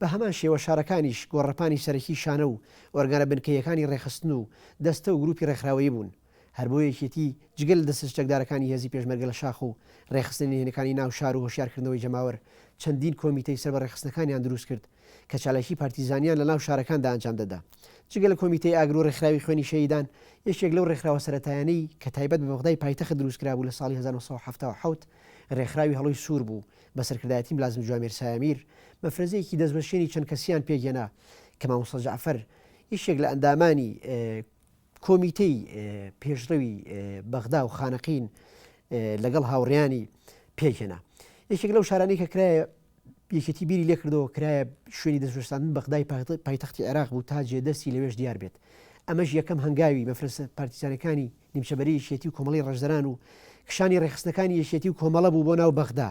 بە هەمان شێوە شارەکانیش گۆڕەپانی سەرەکی شانە و ئۆرگانە بنکەییەکانی ڕێکخستن و دەستە و گروپی ڕێکخراوەیی بوون. هەر بۆ یەکێتی جگە لە دەستە چەکدارەکانی هێزی پێشمەرگە لە شاخ و ڕێکخستنە نهێنەکانی ناو شار و هۆشیارکردنەوەی جەماوەر چەندین کۆمیتەی سەر بە ڕێکخستنەکانیان دروست کرد کە چالاکی پارتیزانیان لە ناو شارەکاندا ئەنجام دەدا. جگە لە کۆمیتەی ئاگر و ڕێکخراوی خوێنی شەهیدان یەکێک لەو ڕێکخراوە سەرەتایانەی کە تایبەت بە بەغدای پایتەخت دروست کرابوو لە ساڵی هەزار و نۆ سەد و حەفتا و حەوت ڕێکخراوی هەڵۆی سوور بوو بە سەرکردایەتی ملازم جوامێر سایەمیر، مەفرەزەیەکی دەستوەشێنی چەند کەسییان پێکهێنا کە مامۆستا جەعفەر یەکێک لە ئەندامانی کۆمیتەی پێشڕەوی بەغدا و خانەقین لەگەڵ هاوڕێیانی پێکهێنا. یەکێک لەو شارانەی کە کرایە یەکێتی بیری لێکردەوە کرایە شوێنی دەستوەشاندن بەغدای پایتەختی عێراق بوو تا جێ دەستی لەوێش دیار بێت. ئەمەش یەکەم هەنگاوی مەفرەزە پارتیزانەکانی نیمچەبەری یەکێتی و کۆمەڵەی ڕەشدەران و کشانی ڕێکخستنەکانی یەکێتی و کۆمەڵە بوو بۆ ناو بەغدا.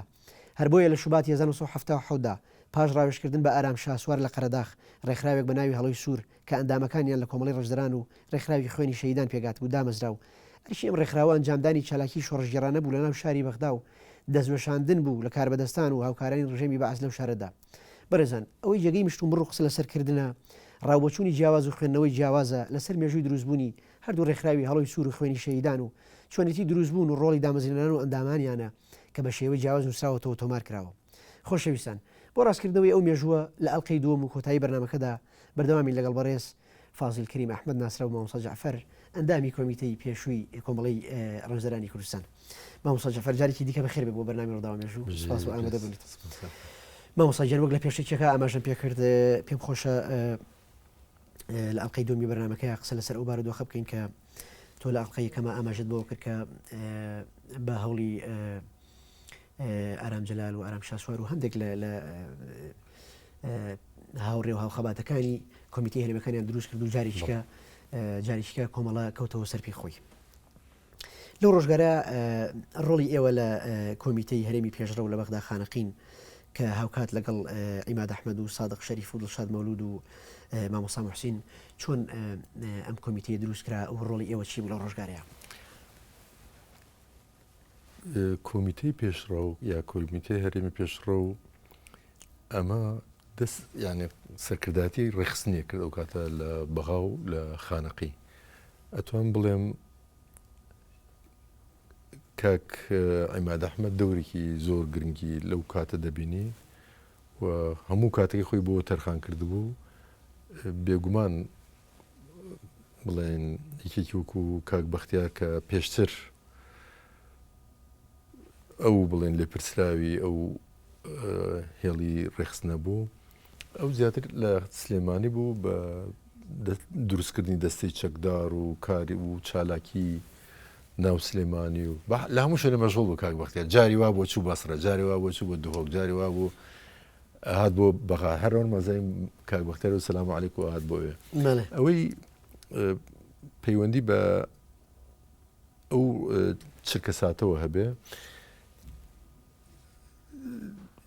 هەر بۆیە لە شوباتی هەزار و نۆ سەد و حەفتا و حەوت دا پاش ڕاوێژکردن بە ئارام شاسوار لە قەرەداخ، ڕێکخراوێک بە ناوی هەڵۆی سوور کە ئەندامەکانیان لە کۆمەڵەی ڕەشدەران و ڕێکخراوی خوێنی شەهیدان پێکهاتبوو دامەزرا و ئەرکی ئەم ڕێکخراوە ئەنجامدانی چالاکیی شۆڕشگێڕانە بوو لە ناو شاری بەغدا و دەستوەشاندن بوو لە کاربەدەستان و هاوکارانی ڕژێمی بەعس لەو شارەدا. بەڕێزان، ئەوەی جێگەی مشتومڕ و قسە لەسەر کردنە، ڕاوبۆچوونی جیاواز و خوێندنەوەی جیاوازە لەسەر مێژووی دروستبوونی هەردوو ڕێکخراوی هەڵۆی سوور و خوێنی شەهیدان و چۆنێتی دروستبوون و ڕۆڵی دامەزرێنەران و ئەندامانیانە کە بە شێوەی جیاواز نووسراوەتەوە و تۆمار کراوە. خۆشەویستان، بۆ ڕاستکردنەوەی ئەو مێژووە، لە ئەڵقەی دووەم و کۆتایی بەرنامەکەدا بەردەوامین لەگەڵ بەڕێز فازیل کەریم ئەحمەد ناسراو بە مامۆستا جەعفەر، ئەندامی کۆمیتەی پێشووی کۆمەڵەی ڕەمزەرانی کوردستان. مامۆستا جەعفەر، جارێکی دیکە بەخێر بێ بۆ بەرنامەی ڕووداوە مێژوو. سوپاس بۆ ئامادەبوونت. مامۆستا گیان، وەک لە پێشەکییەکە ئاماژەم پێ کرد، پێم خۆشە، لە ئەڵلقەی دومی بەرنمەکەی قسە لەسەر ئەو بارودۆخە بکەین کە تۆ لە ئەڵلقەیە کەمە ئاماژت بۆ کرد کە بە هەوڵی ئارام جلال و ئارام شاسوار و هەندێک لە هاوڕێ و هاوخەباتەکانی کۆمیتی هەرمەکانیان دروست کرد و جارێکیکە جارێکیکە کۆمەڵە کەوتەوە سەرپی خۆی لەو ڕۆژگارە ڕۆڵی ئێوە لە کۆمیتەی هەرێمی پێشڕەو لە بەغدا خانەقین کە هاوکات لەگەڵ عیماد ئەحمەد و سادق شەریف و دڵشاد مەولود و مامۆسا محسین چۆن ئەم کۆمیتەی دروست کرا و ڕۆڵی ئێوە چی بوو لە ڕۆژگارەیە کۆمیتەی پێشڕەو یا کۆمیتەی هەرێمی پێشڕە و ئەمە دەست یانێ سەرکرداتی ڕێخستنیە کرد ئەو کاتە لە بەغا و لە خانەقی ئەتوان بڵێم کاک عیماد ئەحمەد دەورێکی زۆر گرنگی لەو کاتە دەبینی و هەموو کاتەکەی خۆی بۆ تەرخان کردبوو بێگومان بڵێن یەکێکی وەکو کاک بەختیار کە پێشتر ئەو بڵێن لێپرسراوی ئەو هێڵی ڕێخست نەبوو ئەو زیاتر لە سلێمانی بوو بە دروستکردنی دەستەی چەکدار و کاری و چالاکی ناو سلێمانی و لە هەموو شوێنە مەژغڵ بوو کاک بەختیار جاری وا بۆ چوو بەسرە جاری وا بۆ چوو بۆ دهۆک جاری وا بوو هات بۆ بەغا هەرەوە مەزای کاک بەختیار و سلام و علیک و هات بۆێ ئەوەی پەیوەندی بە ئەو چرکە ساتەوە هەبێ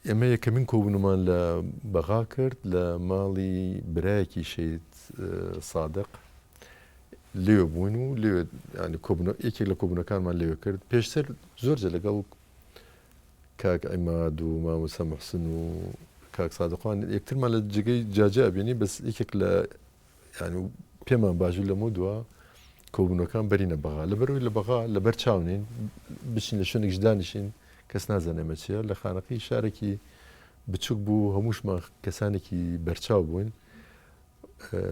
ئێمە یەکەمین کۆبوونمان لە بەغا کرد لە ماڵی برایەکی شەید سادق لێوە بوون و لێوێت ینی کۆبنە یەکێک لە کۆبوونەکانمان لێوە کرد پێشتر زۆرجە لەگەڵ کاک ئەماد و مامۆسا محسن و کاک سادقان یەکترمان لە جگەی جاجا بینی بەس یەکێک لە یانی و پێمان باشبوو لەمەو دوا کۆبوونەکان بەرینە بەغا لە بەرەوەی لە بەغا لە بەر چاونین بچین لە شوێنێکش دانیشین کەس نازانێمە چیە لە خانەقی شارێکی بچووک بوو هەمووشمان کەسانێکی بەرچاو بووین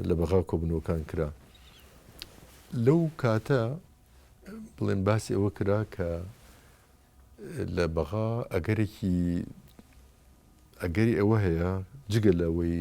لە بەغا کۆبنەوەکان کرا لەو کاتە بڵێن باسی ئەوە کرا کە لە بەغا ئەگەرێکی ئەگەری ئەوە هەیە جگە لەوەی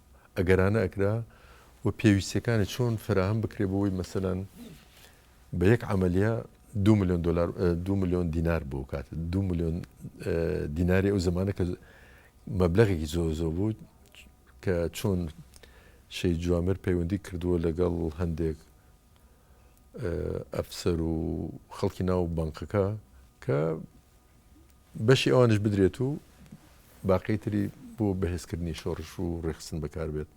ئەگەرانە ئەکرا و پێویستیەکانی چۆن فەراهەم بکرێ بۆەوەی مەسەەن بە یەک عملیە دو میلیۆن دلار دو میلیۆن دینار بۆ کات دو میلیۆن دیناری ئەو زمانە کە مەبلغێکی زۆ زۆ بوو کە چۆن شەی جوامر پەیوەندی کردووە لەگەڵ هەندێک ئەفسەر و خەڵکی ناو بانقەکە کە بەشی ئەوانیش بدرێت و باقی تری بۆ بەهێزکردنی شۆڕش و ڕێخستن بەکاربێت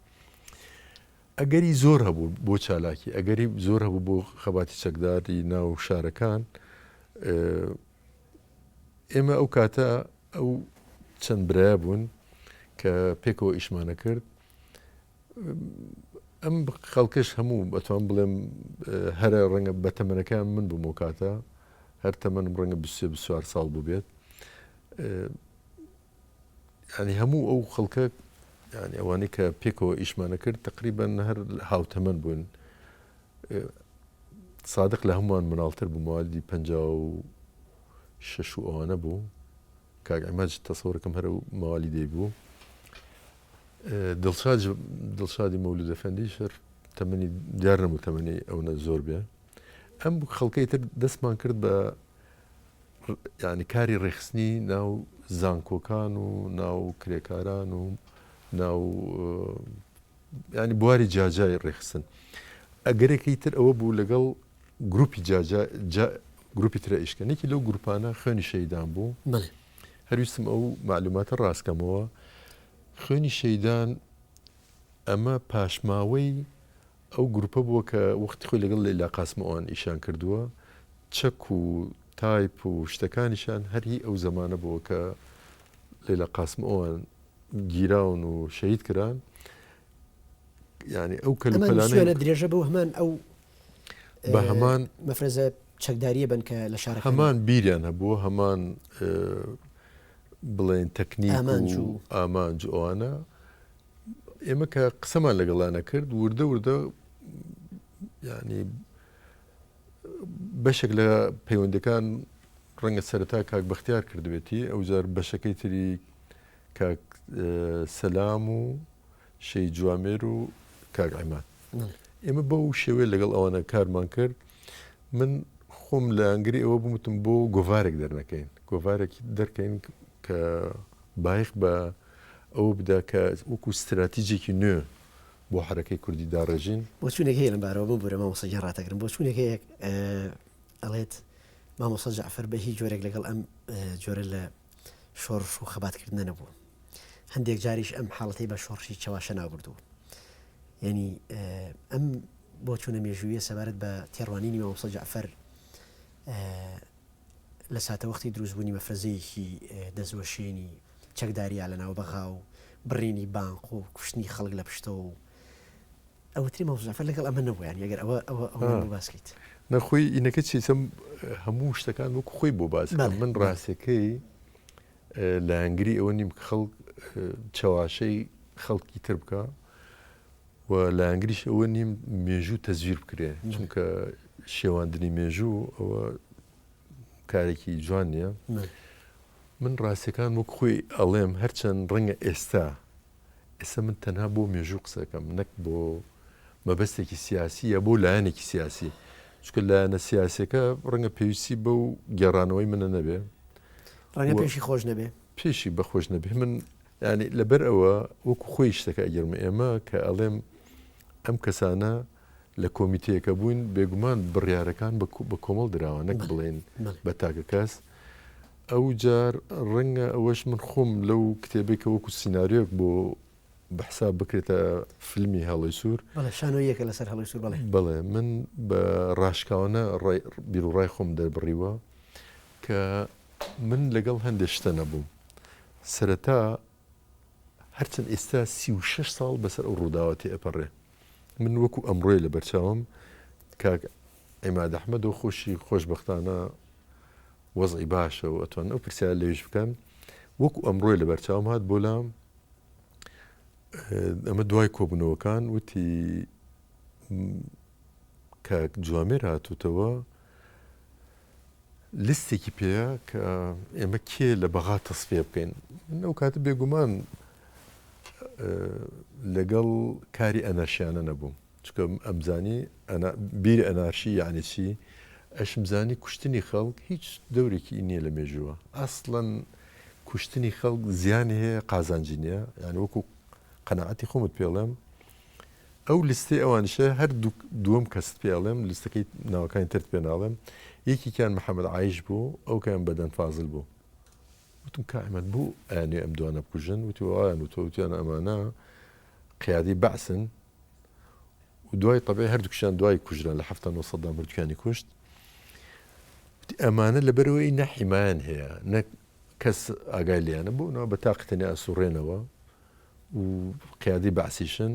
ئەگەری زۆر هەبوو بۆ چالاکی ئەگەری زۆر هەبوو بۆ خەباتی چەکداری ناو شارەکان ئێمە ئەو کاتە ئەو چەند برای بوون کە پێکەوە ئیشمانە کرد ئەم خەڵکەش هەموو ئەتوانم بڵێم هەرە ڕەنگە بە تەمەنەکەیان من بووم ئەو کاتە، هەر تەمەنم ڕەنگە بیست سێ بیست چوار ساڵ بووبێت. یانی هەموو ئەو خەڵکە یانی ئەوانەی کە پێکەوە ئیشمان دەکرد تقریبەن هەر هاوتەمەن بوون. سادق لە هەمووان مناڵتر بوو موادی پەنجا و شەش و ئەوانە بوو. کاک عماد تەسەوەرەکەم هەرە موالیدەی بوو. دڵشاد دڵشادی مەولود ئەفەندی شەر تەمەنی دیار نەبوو تەمەنی ئەونە زۆر بێ ئەم خەڵکەی تر دەستمان کرد بە ینی کاری ڕێخستنی ناو زانکۆکان و ناو کرێکاران و ناو ینی بواری جاجای ڕێخستن ئەگەرێکی تر ئەوە بوو لەگەڵ گروپی جاجا گروپی ترە ئیشکەنێکی لەو گروپانە خوێنی شەیدان بوو هەر ویستم ئەو مەعلوماتە ڕاست کەمەوە، خوێنی شەیدان ئەمە پاشماوەی ئەو گروپە بووە کە وەختی خۆی لەگەڵ لەیلا قاسمەوە ئەوان ئیشیان کردووە، چەک و تایپ و شتەکانیشیان هەر هی ئەو زەمانە بووە کە لەیلا قاسمەوەیان گیراون و شەهید کران. یانی ئەو کەلوپەلانەی. ئەمە نووسیویانە درێژە بەو هەمان ئەو. بە هەمان. مەفرەزە چەکدارییە بن کە لە شارەکانی. هەمان بیریان هەبووە، هەمان بڵێین تەکنیک و ئامانج و ئەوانە. ئێمە کە قسەمان لەگەڵا نەکرد، وردە وردە یانی بەشێک لە پەیوەندیەکان ڕەنگە سەرەتا کاک بەختیار کردبێتی، ئەوجار بەشەکەی تری کاک سەلام و شێی جوامێر و کاک عماد ئێمە بەو شێوەیە لەگەڵ ئەوانە کارمان کرد من خۆم لە ئەنگری ئەوە بمتم بۆ گۆڤارێک دەرنەکەین گۆڤارێکی دەرکەین کە بایخ بە ئەو بدا کە وەکو استراتیجێکی نوێ بۆ حرەکەی کوردی داڕێژین بۆ چونێک هەیە لەمبارەوە بۆ بەرە مامۆسەجان ڕاتەگرم بۆ چونێک هەیە ئەڵێت مامۆسە جعفر بە هیچ جۆرێک لەگەڵ ئەم جۆرە لە شۆڕش و خەباتکردنە نەبوو هەندێک جاریش ئەم حاڵەتی بە شۆڕشی چەواشە ناوبردووە ینی ئەم بۆ چونە مێژوویە سەبارەت بە تێڕوانینی مامۆستا جعفەر لە ساتەوەختی دروستبوونی مەفرەزەیەکی دەستوەشێنی چەکداریا لە ناو بەغا و بڕینی بانق و کوشتنی خەڵک لە پشتەوە و ئەوتری مامۆزافەر لەگەڵ ئەمە نەبوویان ئەگەر ئەوە ئەوە ئەوە باسکەیت نەخۆی ئینەکە چیسم هەموو شتەکان وەکو خۆی بۆ باز من ڕاستەکەی لە هەنگری ئەوە نیم خەڵک چەواشەی خەڵکی تر بکە و لە ئەنگریش ئەوە نیم مێژوو تەزویر بکرێ چونکە شێواندنی مێژوو ئەوە کارێکی جوان نییە من ڕاستەکان وەک خۆی ئەڵێم هەرچەند ڕەنگە ئێستا ئێستا من تەنها بۆ مێژوو قسەکەم نەک بۆ مەبەستێکی سیاسی یا بۆ لایەنێکی سیاسی چکە لایەنە سیاسەکە ڕەنگە پێویستی بە و گێڕانەوەی منە نەبێ ڕەنگە پێشی خۆش نەبێ پێشی بەخۆش نەبێ من ینی لەبەر ئەوە وەکو خۆی شتەکە ئەگەرم ئێمە کە ئەڵێم ئەم کەسانە لە کۆمیتەیەکە بووین، بێگومان بڕیارەکان بە کۆمەڵ دراوە نەک بڵێین بە تاکە کەس، ئەوجار ڕەنگە ئەوەش من خۆم لەو کتێبێک کە وەکو سیناریۆک بۆ بە حساب بکرێتە فیلمی هێڵی سوور شانۆیەکە لەسەر هەڵی سوور بڵێ بڵێ من بە ڕاشکاوانە بیرڕای خۆم دەربڕیوە کە من لەگەڵ هەندێک شتە نەبووم سەرەتا هەرچەند ئێستا سی و شەش ساڵ بەسەر ئەو ڕووداوە تێئەپەڕێ، من وەکوو ئەمڕۆیە لە بەرچاوم، کاک عیماد ئەحمەدۆ خۆشی خۆشبەختانە وەزعی باشە و ئەتوانن ئەو پرسیارە لێیش بکەن، وەکوو ئەمڕۆیە لە بەرچاوم هات بۆ لام، ئەمە دوای کۆبوونەوەکان، وتی کاک جوامێر هاتووتەوە، لیستێکی پێیە کە ئێمە کێ لە بەغا تەسفیە بکەین من ئەو کاتە بێگومان لەگەڵ کاری ئەنەرشیانە نەبووم چکە ئەمزانی بیر ئەنارشی یعنی چی ئەشمزانی کوشتنی خەڵک هیچ دەورێکی نییە لە مێژووە ئەسڵەن کوشتنی خەڵک زیانی هەیە قازانجی نیە یان وەکو قەنەعەتی خۆمت پێڵێم ئەو لیستەی ئەوانیشە هەر دوو دووەم کەست پێ ئەڵێم لیستەکەی ناوەکانی ترت پێ ناڵێم یەکیان محەممەد عیش بوو ئەو کەیان بەدەن فازل بوو وتم کائمەت بوو ئەیانێ ئەم دوانە بکوژن وتی وایان و تۆوتیان ئەمانە قیادی بەعسن و دوای طبعی هەردووکشان دوای کوژران لە هەفتان و سەددام هەردووکیانی کوشت ئەمانە لەبەرەوەی نەحیمایان هەیە نەک کەس ئاگای لیانە بوونەوە بە تاقتنی ئاسوڕێنەوە و قیادەی بەعسیشن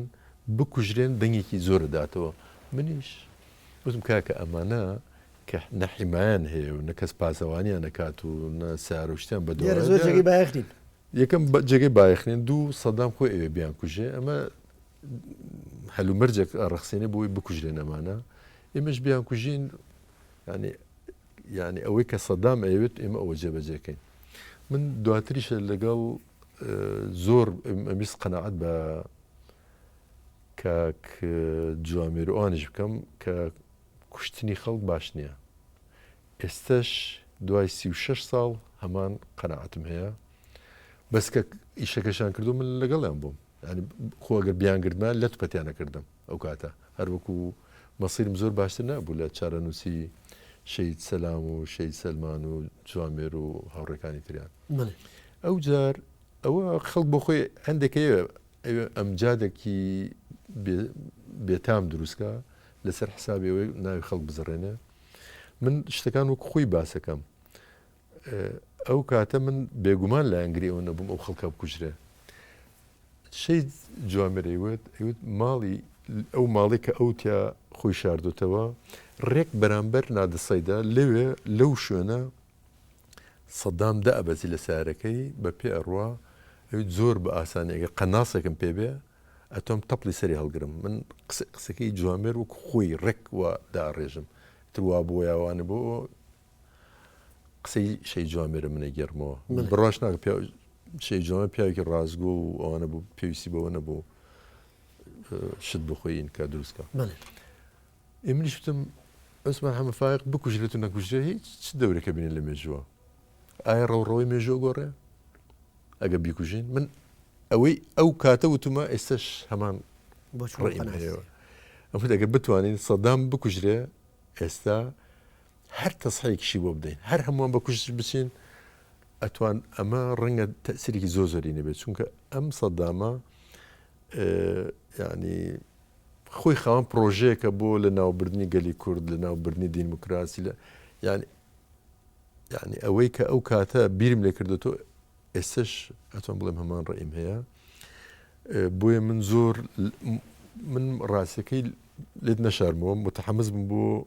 بکوژرێن دەنگێکی زۆر دەداتەوە منیش وتم کاکە ئەمانە کە نە حیمایەن هەیە و نە کەس پاسەوانیان نەکات و نە سارە و شتیان بە دۆ لێرە زۆر جێگەی بایەخ نین یەکەم بە- جێگەی بایەخ نین دوو سەدام خۆی ئەوێ بیان کوژێ ئەمە هەلومەرجێک ڕەخسێنێ بۆی بکوژرێن ئەمانە ئێمەش بیان کوژین یعنی یعنی ئەوەی کە سەدام ئەیەوێت ئێمە ئەوە جێبەجێکەین من دواتریشە لەگەڵ زۆر ئەمویست قەناعەت بە کاک جوامێر ئەوانش بکەم کە کوشتنی خەڵک باش نییە ئێستش دوای سی و شش ساڵ هەمان قەنەعاتم هەیە بەس کە ئیشەکەشان کردو من لەگەڵیان بووم خۆگە بیانگردمان لەت پەتیانەکردم ئەو کاتە هەر وەکو مەسیرم زۆر باشتر نەبوو لە چارەنووسی شەید سەلام و شەید سەلمان و جوامێر و هاوڕێکانی تریان ئەو جار ئەوە خەڵک بۆ خۆی هەندێکەیە ئەمجادێکی بێتام دروستکە لەسەر حسابەوەی ناوی خەڵک بزڕێنێ من شتەکان وەک خۆی باسەکەم ئەو کاتە من بێگومان لایەنگری ئەوە نەبووم ئەو خەڵکە بکوژرێ شەید جوامێرەی وت ئەوت ماڵی ئەو ماڵی کە ئەو تیا خۆی شاردوتەوە ڕێک بەرامبەر نادەسەیدا لەوێ لەو شوێنە سەدام دە ئەبەزی لە سارەکەی بە پێ ئەڕوا ئەوی زۆر بە ئاسانیگە قەناسێکم پێ بێ ئەتۆم تەپلی سەری هەڵگرم من قسەکەی جوامێر وەک خۆی ڕێک و داڕێژم تروا بۆ یاوانە بۆ قسەی شەی جوامێرە منە گەرمەوە بڕاش ناکە پێ شەی جوامە پیاوێکی ڕازگۆ و ئەوانە بوو پێویستی بەوە نەبوو شت بخۆین کە دروستکە ئێمنیش وتم ئەسمان هەمە فاق بکوژرێت و نەکوژرێ هیچ چ دەورەکە بینێ لە مێژووە ئایا ڕەوڕەوەی مێژوە گۆڕێ ئەگە بیکوژین من ئەوەی ئەو کاتە وتمە ئێستش هەمان بۆچڕەوە ئەم دەگە بتوانین سەدام بکوژرێ ئێستا هەر تەسحیەکیشی بۆ بدەین هەر هەمووان بە کوشتش بچین ئەتوان ئەمە ڕەنگە تەسیرێکی زۆر زۆری نەبێت چونکە ئەم سەدامە ینی خۆی خاوەن پرۆژەیەکە بۆ لە ناوبردنی گەلی کورد لە ناوبردنی دیموکراسی لە یعنی یعنی ئەوەی کە ئەو کاتە بیرم لێ کردو تۆ ئێستش ئەتۆم بڵێم هەمان ڕئیم هەیە بۆیە من زۆر من ڕاستەکەی لێت نەشارمەوە متحەمز بوو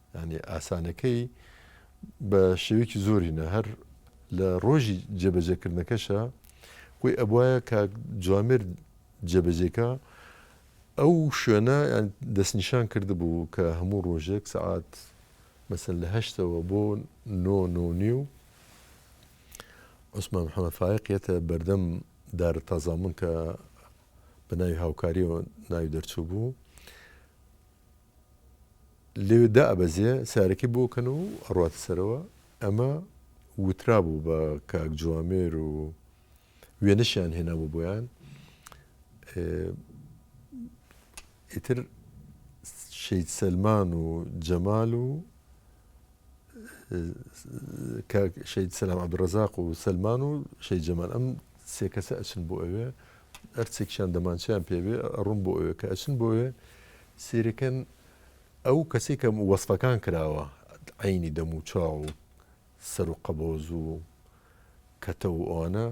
یانی ئاسانەکەی بە شێوەیەکی زۆرینە هەر لە ڕۆژی جێبەجێکردنەکەشە وی ئەبواە کاک جوامێر جێبەجێکە ئەو شوێنە دەستنیشان کرد بوو کە هەموو ڕۆژێک سەعات مەسەر لە هەشتەوە بۆ نۆ نۆنی و عوسمان محەممە فاقیەتە بەردەم دارە تازامون کە بە ناوی هاوکاریەوە ناوی دەرچوو بوو لەوێ دائەبەزێ سەیارەکەی بۆ کەن و ئەڕواتە سەرەوە ئەمە وترابوو بە کاک جوامێر و وێنەشیان هێنابوو بۆیان ئیتر شەید سەلمان و جەمال و شەید سەلام عبدڕزاق و سلمان و شەید جەمان ئەم سێ کەسە ئەچن بۆ ئەوێ ئەرچێکیان دەمانچیان پێوێ ڕوون بۆ ئەوێ کە ئەچن بۆ ئەوێ سیرەکەن ئەو کەسەی کە وەسفەکان کراوە عەینی دەم و چاو و سەر و قەبۆز و کەتە و ئەوانە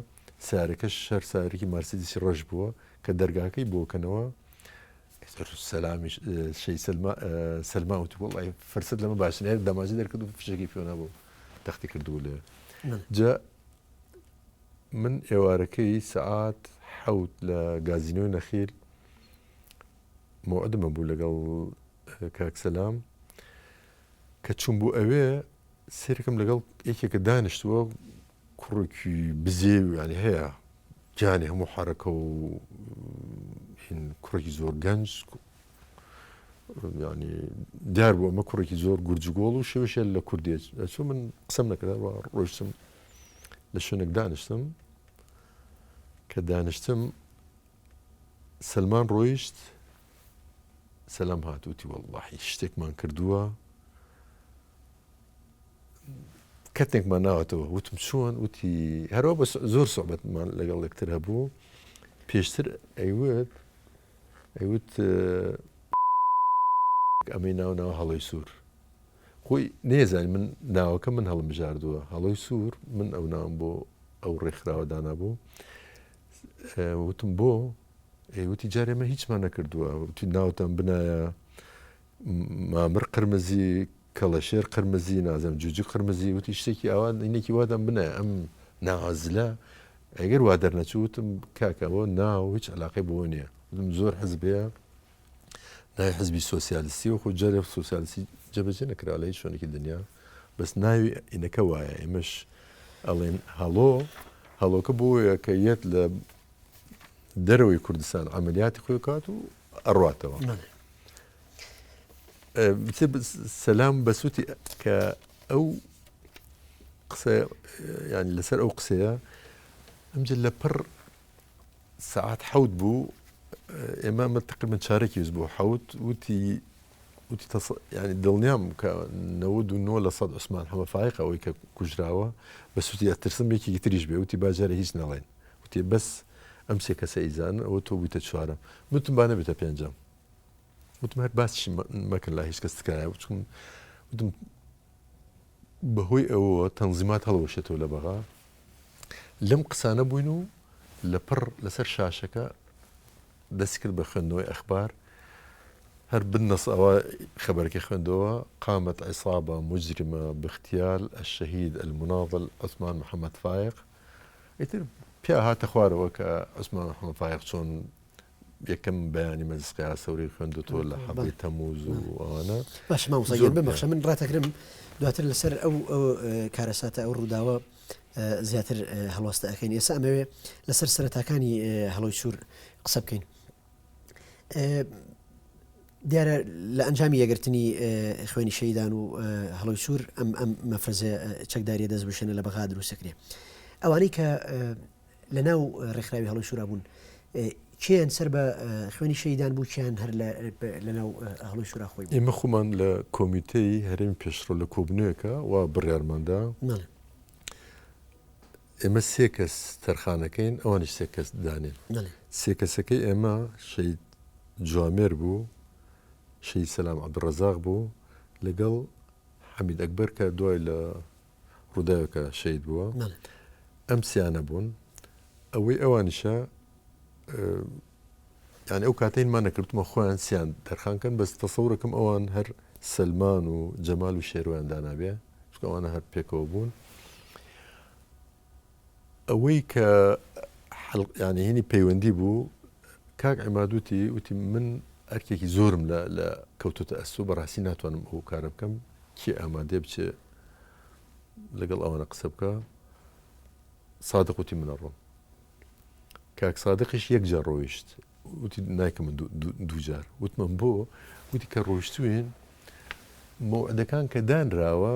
سارەکەش هەر سارەکی مارسیدیسی ڕەش بووە کە دەرگاکەی بۆکەنەوە سەلامیش شەی سەلما وتی وڵی فرسەت لەمە باشنێر دەماجی دەرکرد و فشێکی پێۆنە بوو تەختی کردو لێ جا من ئێوارەکەی سعات حەوت لە گازینۆی نەخیل موعدمە بوو لەگەڵ کاک سەلام کە چوون بوو ئەوێ سێرکم لەگەڵ یەکێکە دانیشتووە کوڕێکی بزێویانی هەیە جانی هەموو حرەکە و کوڕێکی زۆر گەنج ینی دیار بوو ئەمە کوڕێکی زۆر گورجگۆڵ و شێوشە لە کوردێت ئەچوو من قسم نەکردەوە ڕۆشتم لە شوێنێک دانیشتم کە دانیشتم سەلمان ڕۆیشت سەلام هات وتی وەڵڵاحی شتێکمان کردووە کەتێکمان ناوەتەوە وتم چۆن وتی هەرەوە بە زۆر سوعبەتمان لەگەڵ لەکتر هەبوو پێشتر ئەیوت ئەیوت ئەمەی ناو ناو هەڵی سوور خۆی نێزانانی من ناوەکە من هەڵمژاردووە هەڵی سوور من ئەو ناوم بۆ ئەو ڕێکخراوە دانابوو وتم بۆ؟ ئەی وتی جارێ مە هیچمان نەکردووە وتی ناوتان بنایە مامر قرمزی کەڵەشێر قرمزی نازم جوجی قرمزی وتی شتێکی ئاوان اینێکی وادەم بنایە ئەم ناوازلە ئەگەر وا دەرنەچوتم کاکەەوە ناو هیچ علاقی بۆ نییە زۆر حزبەیە ناوی حزبی سۆسیالیستی وەکو جەرێ سوسیالیستی جەبەجێ نەکرا لە هیچ شوێنێکی دنیا بەس ناوی ئینەکە وایە ئێمەش ئەڵێن هەڵۆ هەڵۆکە بۆیە کە یەت لە دەرەوەی کوردستان ئەعملیاتی خۆی کات و ئەڕاتەوە سەسلام بەسووتی کە ئەو قسە ینی لەسەر ئەو قسەیە ئەمجل لە پڕ سەعات حەوت بوو ئێمە ئەمە تقریبا چارەکی وز بۆ حەوت وتی وتی تەس... ینی دڵنیام کە نەود و نۆ لە سەد عوسمان حەمە فایق ئەوەی کە کوژراوە بە سوتی ئەترسم یەکێکی تریش بێ وتی باجارە هیچ نەڵێن وتێ بەس ئەم سێ کەسە ئیزان ئەوە تۆ بوویتە چوارم وتم با نەبێتە پێنجەم وتم هەر باس مەکرد لە هیچ کەس تکایە وچم وتم بەهۆی ئەوەوە تەنزیمات هەڵوەشێتەوە لە بەغا لەم قسانە بووین و لە پڕ لەسەر شاشەکە دەستی کرد بە خوێندنەوەی ئەخبار هەر بنەس ئەوە خەبەرەکە خوێندەوە قامت عیسابە مجرمە بختیال الشهید المناضل عثمان محەممەد فایق ئیتر پیا هاتە خوارەوە کە عثمان محەممەد فایق چۆن یەکەم بەیانی مەجلس قیاسەوری خوێندوتەوە لە حەڤی تەموز و ئەوانە باش مامۆستا گیان ببەخشە من ڕاتەگرم دواتر لەسەر ئەو کارەساتە ئەو ڕووداوە زیاتر هەڵوەستە ئەەکەین ئێستا ئەمەوێ لەسەر سەرەتاکانی هەڵۆی سوور قسە بکەین دیارە لە ئەنجامی یەگرتنی خوێنی شەیدان و هەڵۆی سوور ئەم ئەم مەفرزە چەکداریە دەست بشێنە لە بەغا دروستەکرێ ئەوانەی کە لە ناو ڕێکخراوی هەڵۆی شورا بوون کێن سەر بە خوێنی شەیدان بوو کیان هەر لە ناو هەڵۆی شورا خۆی ئێمە خۆمان لە کۆمیتەی هەرێمی پێشڕە لە کۆبنەوەکە و بڕارماندا ئێمە سێ کەس تەرخانەکەین ئەوانی سێ کەس دانێن سێ کەسەکەی ئێمە شەید جوامێر بوو شەید سەسلام عبدڕزاق بوو لەگەڵ حەمید ئەکبەر کە دوای لە ڕوداوێکە شەید بووە ئەم سیانە بوون ئەوەی ئەوانیشە یان ئەو کاتین ما نەکردمە خۆیان سیان دەرخانکەن بەس تەسەورەکەم ئەوان هەر سلمان و جەمال و شێروان دانابێ چکەوانە هەر پێکەوە بوون ئەوەی کە حەلق یانی هینی پەیوەندی بوو کاک عماد وتی وتی من ئەرکێکی زۆرم لە لە کەوتوتە ئەستۆ بەڕاستی ناتوانم ئەو کارە بکەم کێ ئامادەێ بچێ لەگەڵ ئەوانە قسە بکە سادق وتی منە ڕۆم کاک سادقیش یەک جار ڕۆیشت وتی نایکە من دووجار وتمەم بۆ وتی کە ڕۆیشتوین مەعدەکان کە دانراوە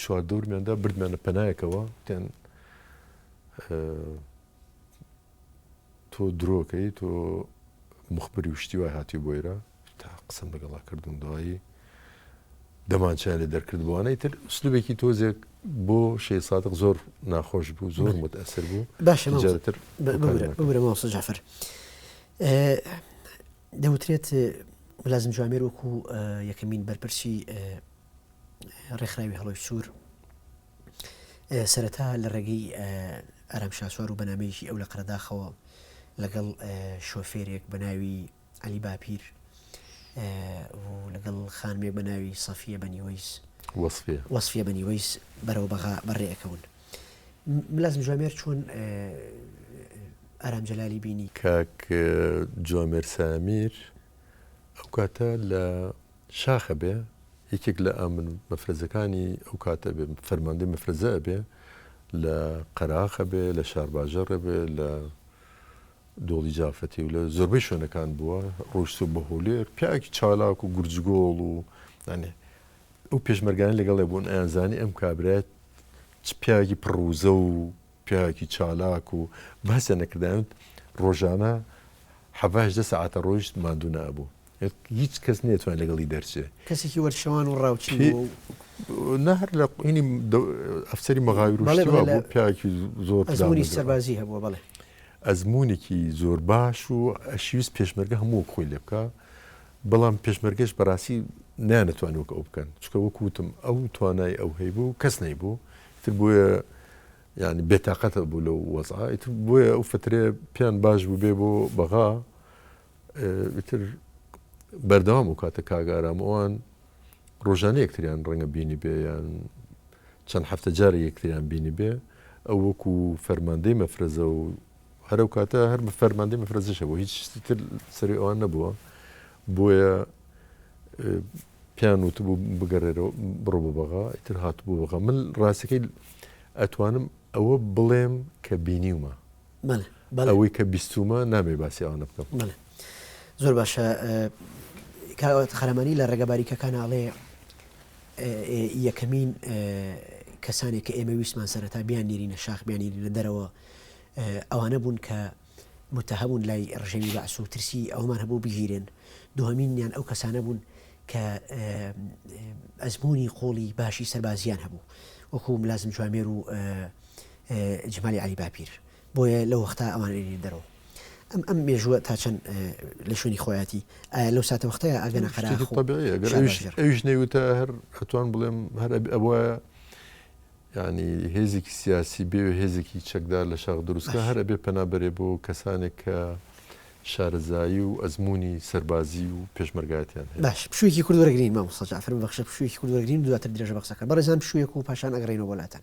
چواردەورمیاندا بردمانە پەنایەکەوە تێن تۆ درۆکەی تۆ مخبری و شتی وای هاتی بۆیرە تا قسم لەگەڵا کردوون دوایی دەمانچیان لێ دەرکرد بووانەی تر سلوبێکی تۆزێک بۆ شێ سادق زۆر ناخۆش بوو زۆر متەسر بوو باشتر بگرە ماوسە جافر دەوترێت لازم جوامێر وەکو یەکەمین بەرپرسی ڕێکخراوی هەڵۆی سوور سەرەتا لە ڕێگەی ئارام شاسوار و بەنامەیەکی ئەو لە قەرداخەوە لەگەڵ شۆفێرێک بەناوی علی باپیر لەگەڵ خانمێک بە ناوی سەفیە بەنیوەیس وەسفە بەنیوەیس بەرەوە بەغا بەڕێەکەون ملازم جوامێر چۆن ئارام جەلالی بینی کاک جوامێر سامیر ئەو کاتە لە شاخ ئەبێ یەکێک لە ئامن مەفرەزەکانی ئەو کات ئەبێ فەرماندەی مەفرەزە ئەبێ لە قەراخ ئەبێ لە شارباژەڕ ئەبێ لە دۆڵی جافەتی و لە زۆربەی شوێنەکان بووە ڕۆشت و بە هۆلێر پیاکی چالاک و گورجگۆڵ و ئەێ ئەو پێشمەرگانی لەگەڵێ بوون ئەیانزانی ئەم کابرایەت پیاوی پڕوزە و پیاوی چالاک و بەسە نەکردایوت ڕۆژانە حەڤهدە ساعتە ڕۆیشت مادوو نابوو هیچ کەس نەیتوان لەگەڵی دەرچێ کەسێکی وەرچەوان و ڕاوچی بوو و نا هەر لە قینی ئەفسەری مەغاوی بەڵێ، ڕوشتیوا بەڵێ، بوو پیاکی زۆر ئەزموونی پراوێزەوە. سەربازی هەبووە بەڵێ ئەزمونێکی زۆر باش و ئەشیویست پێشمەرگە هەموو وەک خۆی لێ بکا بەڵام پێشمەرگەش بەڕاستی نەیانەتوانی وەک ئەو بکەن چونکە وەک وتم ئەو توانای ئەو هەیبوو کەس نەیبوو ئیتر بۆیە یانی بێتاقەتە بوو لەو وەزعە ئیتر بۆیە ئەو فترەیە پێیان باش بوو بێ بۆ بەغا ئیتر بەردەوام ئەوکاتە کاک ئارام ئەوان ڕۆژانە یەکتریان ڕەنگە بینی بێ یان چەند هەفتە جارە یەکتریان بینی بێ ئەو وەکو فەرماندەی مەفرەزە و هەرو کاتە هەر بە فەرماندەی مەفرەزیشە بۆ هیچ شتی تر سەری ئەوان نەبووە بۆیە پیان وت بوو بگەڕێرەوە بڕۆ بۆ بەغا ئیتر هات بۆ بەغا من ڕاستەکەی ئەتوانم ئەوە بڵێم کە بینیومە ئەوەی کە بیستوومە نامەوێ باسی ئەوانە بکەم. زۆر باشە کاک قارەمانی لە ڕێگە باریکەکان ئاڵێ یەکەمین کەسانێک کە ئێمە ویسمان سەرەتا بیان نێرینە شاخ بیانی لە دەرەوە ئەوانە بوون کە متهەبوون لای ڕژێوی بەعس و ترسی ئەومان هەبوو بگیرێن دوهمینیان ئەو کەسانە بوون کە ئەزمموی قۆڵی باشی سەربازیان هەبوو وەکو لازم جوامێر و جمالی عەلی باپیر بۆیە لەو وەختە ئەوان ئەینێن دەرەوە ئەم ئەم مێژووە تا چەند لە شوێنی خۆیەتی ئایا لەو ساتە وەختەیە ئەگەنە قەراغ و طبیعیە گەر شاباش ئەویش جەرگ. ئەویش نەیوتە هەر ئەتوان بڵێم هەر ئەبێ ئەبوایە یانی هێزێکی سیاسی بێ و هێزێکی چەکدار لە شاخ دروست بکا باش. هەر ئەبێ پەنا بەرێ بۆ کەسانێک کە شارەزایی و ئەزموونی سەربازی و پێشمەرگایەتیان هەیە باش پشوویەکی کورت وەرگرین مامۆستا جەعفەر ببەخشە پشوویەکی کورت وەرگرین و دواتر درێژە بە قسەکە بەڕێزان پشوویەک و پاشان ئەگەڕێینەوە بۆ لاتان.